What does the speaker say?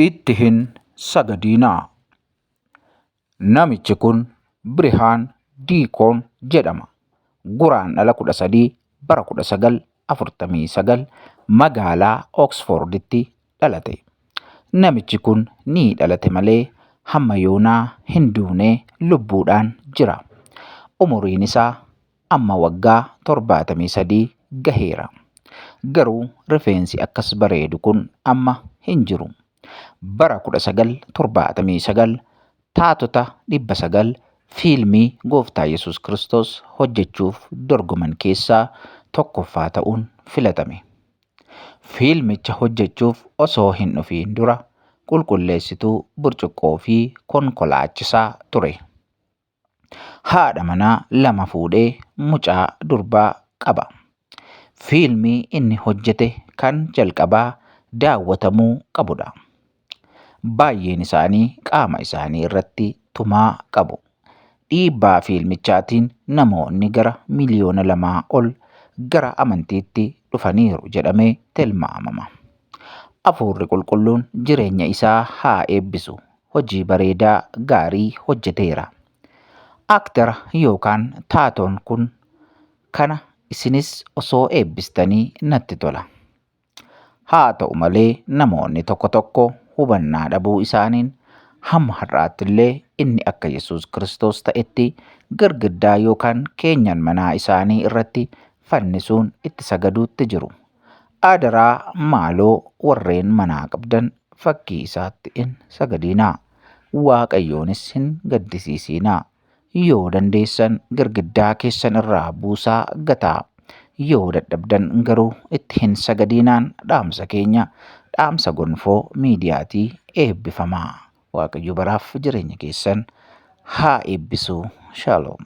itti hin sagadiinaa. Namichi kun Birihaan Diikoon jedhama. Guraan dhala 13 bara 1949 magaalaa Oksforditti dhalate. Namichi kun ni dhalate malee hamma yoonaa hin duune lubbuudhaan jira. Umuriin isaa Amma waggaa 73 gaheera. Garuu rifeensi akkas bareedu kun amma hin jiru. Bara 1979 taatota 900 fiilmii Gooftaa Yesuus Kiristoos hojjechuuf dorgoman keessaa tokkoffaa ta'uun filatame. Fiilmicha hojjechuuf osoo hin dhufiin dura qulqulleessituu burcuqqoo fi konkolaachisaa ture. haadha manaa lama fuudhee mucaa durbaa qaba. Fiilmii inni hojjete kan jalqabaa daawwatamuu qabudha. Baay'een isaanii qaama isaanii irratti tumaa qabu. Dhiibbaa fiilmichaatiin namoonni gara miliyoona lamaa ol gara amantiitti dhufaniiru jedhamee tilmaamama. Afuurri qulqulluun jireenya isaa haa eebbisu hojii bareedaa gaarii hojjeteera. Actor yookaan taatoon kun kana isinis osoo eebbistanii natti tola. Haa ta'u malee namoonni tokko tokko hubannaa dhabuu isaaniin hamma har'aatti illee inni akka Yesuus Kiristoos ta'etti girgiddaa yookaan keenyan manaa isaanii irratti fannisuun itti sagaduutti jiru. Aadaraa maaloo warreen manaa qabdan fakkii isaatti hin sagadiinaa. Waaqayyoonis hin gaddisiisiinaa. Yoo dandeessan girgiddaa keessan irraa buusaa gataa. Yoo dadhabdan garuu itti hin sagadiinaan dhaamsa keenya dhaamsa gonfoo miidiyaatii eebbifamaa. Waaqayyo baraaf jireenya keessan haa eebbisu. Shalom.